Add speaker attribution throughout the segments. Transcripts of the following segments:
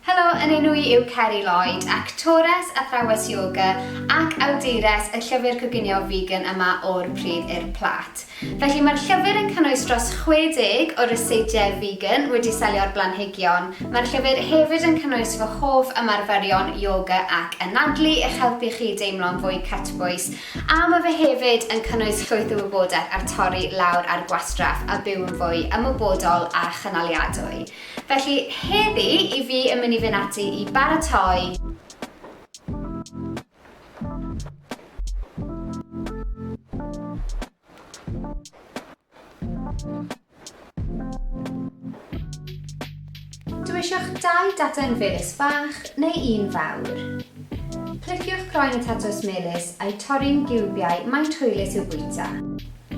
Speaker 1: Helo, yn enw i yw Ceri Lloyd, actores, athrawes ioga ac awdures y llyfr coginio vegan yma O'r Pridd i'r Plât. Felly mae'r llyfr yn cynnwys dros 60 o ryseidiau vegan wedi selio'r blanhigion. Mae'r llyfr hefyd yn cynnwys fy hoff ymarferion ioga ac anadlu i'ch helpu chi deimlo'n fwy cytbwys a mae fe hefyd yn cynnwys llwyth o wybodaeth ar torri lawr ar gwastraff a byw'n fwy ymwybodol a chynaliadwy. Felly, heddi, i fi yn mynd i fynd ati i baratoi. Dwi eisiau'ch dau data'n felys fach neu un fawr. Pliciwch croen y tatws melys a'i torri'n giwbiau maint hwylus i'w bwyta.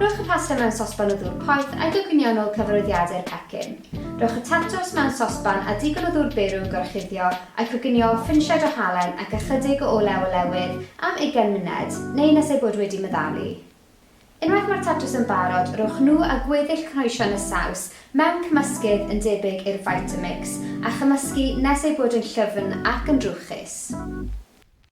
Speaker 1: Rhowch y pasta mewn sosban o ddŵr poeth a'i goginionol cyfarwyddiadu'r pecyn. Rhowch y tatws mewn sosban â digon o ddŵr byr i'w gorchuddio a'i coginio â phrinsiad o halen ac ychydig o olew olewydd am ugain munud, neu nes eu bod wedi meddalu. Unwaith mae'r tatws yn barod, rhowch nhw a gweddill cynhwysion y saws mewn cymysgydd yn debyg i'r Vitamix a chymysgu nes eu bod yn llyfn ac yn drwchus.